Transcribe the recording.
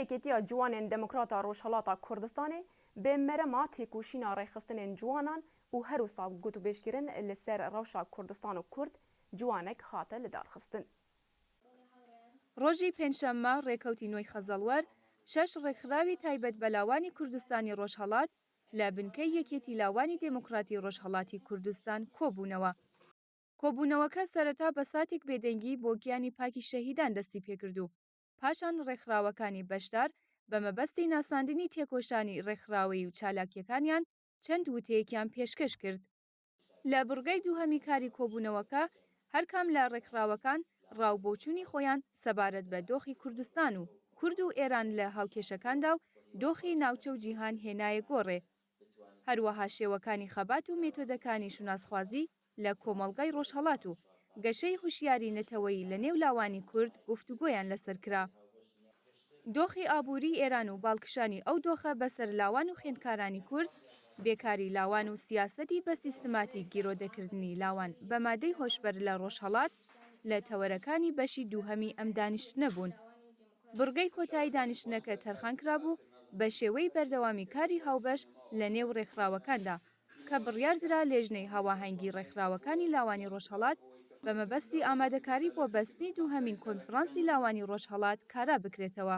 یەکێتیا جوانێن دێموکراتا ڕۆژهەڵاتا کوردستانێ بێ مەرەما تێکۆشینا ڕێکخستنێن جوانان و هەروسا گوتوبێژ کرن لە سەر ڕەوشا کوردستان و کورد جوانەک هاتە لە دار خستن. ڕۆژی پێنجشەممە ڕێکەوتی نۆی خەزەڵوەر شەش ڕێکخراوی تایبەت بە لاوانی کوردستانی ڕۆژهەڵات لە بنکەی یەکێتی لاوانی دێموکڕاتی ڕۆژهەڵاتی کوردستان کۆ بوونەوە. کۆبوونەوەکە سەرەتا بە ساتێک بێدەنگی بۆ گیانی پاکی شەهیدان دەستی پێکرد و پاشان ڕێکخراوەکانی بەشدار بە مەبەستی ناساندنی تێکۆشانی ڕێکخراوەیی و چالاکیەکانیان چەند وتەیەکیان پێشکەش کرد. لە بڕگەی دووهەمی کاری کۆبوونەوەکە هەرکام لە ڕێکخراوەکان ڕا و بۆچوونی خۆیان سەبارەت بە دۆخی کوردستان و کورد و ئێران لە هاوکێشەکاندا و دۆخی ناوچە و جیهان هێنایە گۆڕێ هەروەها شێوەکانی خەبات و مێتۆدەکانی شوناسخوازی لە کۆمەڵگای ڕۆژهەڵات و گەشەی هوشیاری نەتەوەیی لە نێو لاوانی کورد گفتوگۆیان لەسەر کرا. دۆخی ئابووریی ئێران و باڵکشانی ئەو دۆخە بە سەر لاوان و خوێندکارانی کورد، بێکاری لاوان و سیاسەتی بە سیستماتیک گیرۆدەکردنی لاوان بە مادەی هۆشبەر لە ڕۆژهەڵات لە تەوەرەکانی بەشی دووهەمی ئەم دانیشتنە بوون. بڕگەی کۆتایی دانیشتنەکە تەرخان کرابوو بە شێوەی بەردەوامی کاری هاوبەش لە نێو ڕێکخراوەکاندا، کە بڕیار درا لێژنەی هاواهەنگی ڕێکخراوەکانی لاوانی ڕۆژهەڵات بە مەبەستی ئامادەکاری بۆ بەستنی دووهەمین کۆنفرانسی لاوانی ڕۆژهەڵات کارا بکرێتەوە.